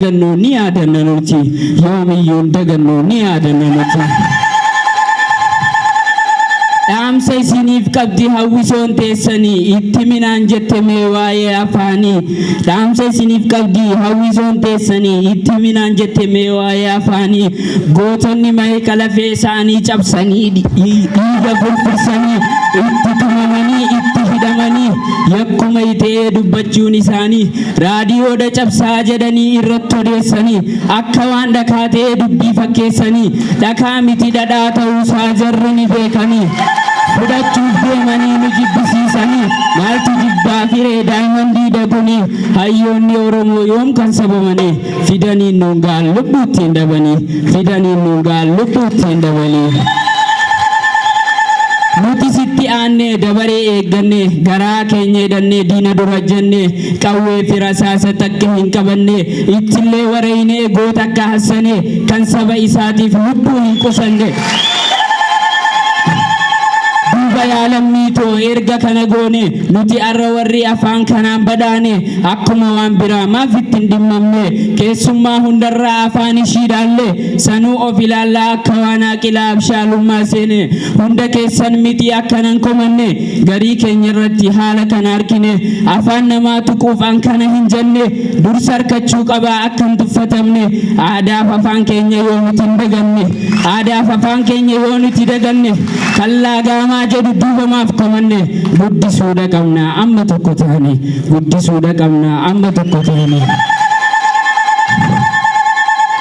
dagannoo ni yaadanna nuti yoomiyyuun dagannoo ni yaadanna nuti dhaamsa isiniif qabdi hawwisoon teessanii itti minaan jette mee waa'ee afaanii dhaamsa isiniif qabdi hawwisoon teessanii itti minaan jette mee waa'ee afaanii gootonni mahee qalafee isaanii cabsanii dhi- dhiiga furfursanii itti tumamanii itti hidhamanii yakkuma itee dubbachuun isaanii raadiyoodha cabsaa jedhanii irratti odeessanii akka waan dhakaa ta'ee dubbii fakkeessanii dhakaa miti dhadhaa ta'uusaa jarri ni beekanii fudhachuuf deemanii nu jibbisiisanii maaltu jibbaa firee daayimandii dagunii hayyoonni oromoo yoom kan sabamanii fidaniin nuun ga'an lubbuu ittiin dhabanii fidaniin nuun ga'an lubbuu ittiin dhabanii. Nuti sitti aannee dabaree eeggannee garaa keenya hidhannee diina dura jennee qawwee fi rasaasa takka hin qabannee ittillee wareeynee goota akka hassanee kan saba isaatiif lubbuu hin qusanne. Duuba yaa lammii too erga kana goone nuti arra warri afaan kanaan badhaane Akkuma waan biraa maaf itti hin dhimmamne keessummaa hundarraa afaan ishii dhaalle sanuu of ilaallaa akka waan aaqilaa abshaalummaa seene hunda keessan miti akkanan komanne garii keenya irratti haala kana arkine afaan namaa tuquuf an kana hin jenne dursa arkachuu qabaa akka hin tuffatamne aadaaf afaan keenya yoo nuti hin daganne aadaaf afaan keenya yoo nuti daganne kan laagaamaa jedhu duubamaaf komanne guddisuudha qabna amma tokko taane guddisuudha qabna amma tokko ta'anii.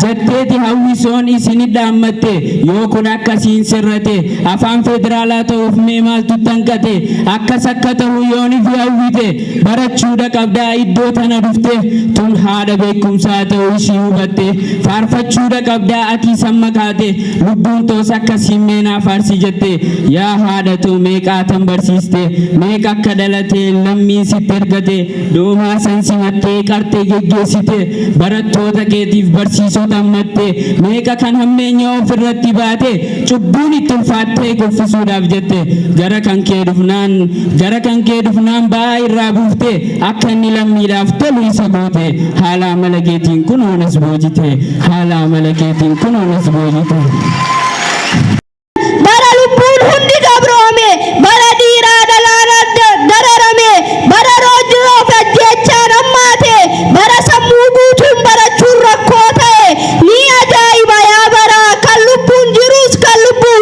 jetteeti hawwisoon isin dhaammatte yoo kun akkasiin sirrate afaan federaalaa ta'uuf mee maaltu tanqate akkas akka ta'u yoonif hawwite barachuudha qabdaa iddoo tana dhufte tun haadha beekumsaa ta'uu ishii hubatte faarfachuudha qabdaa akii samma kaate Lubbuun toos akka siimmee naa faarsi jette yaa haadha too meeqaa tan barsiiste meeqa akka dhalate lammiin sitti ergate du'umaa san simattee qartee geggeessite barattoota keetiif barsiisota ammatte meeqa kan hammeenya of irratti baate cubbuun itti ulfaattee kuffisuudhaaf jette gara kan kee dhufnaan gara kan kee dhufnaan ba'aa irraa buufte Akka inni lammiidhaaf tolu isa goote, haala amala keetiin kunoo nas boojite, haala amala keetiin kunoo nas boojite. Bara lubbuun hundi gabroome, bara dhiiraa dhalaan adda dararame, bara roorroo fi ajjeechaan hammaate, bara sammuu guutuun barachuun rakkoo ta'e, ni ajaa'iba yaa baraa kan lubbuun jiruus kan lubbuun.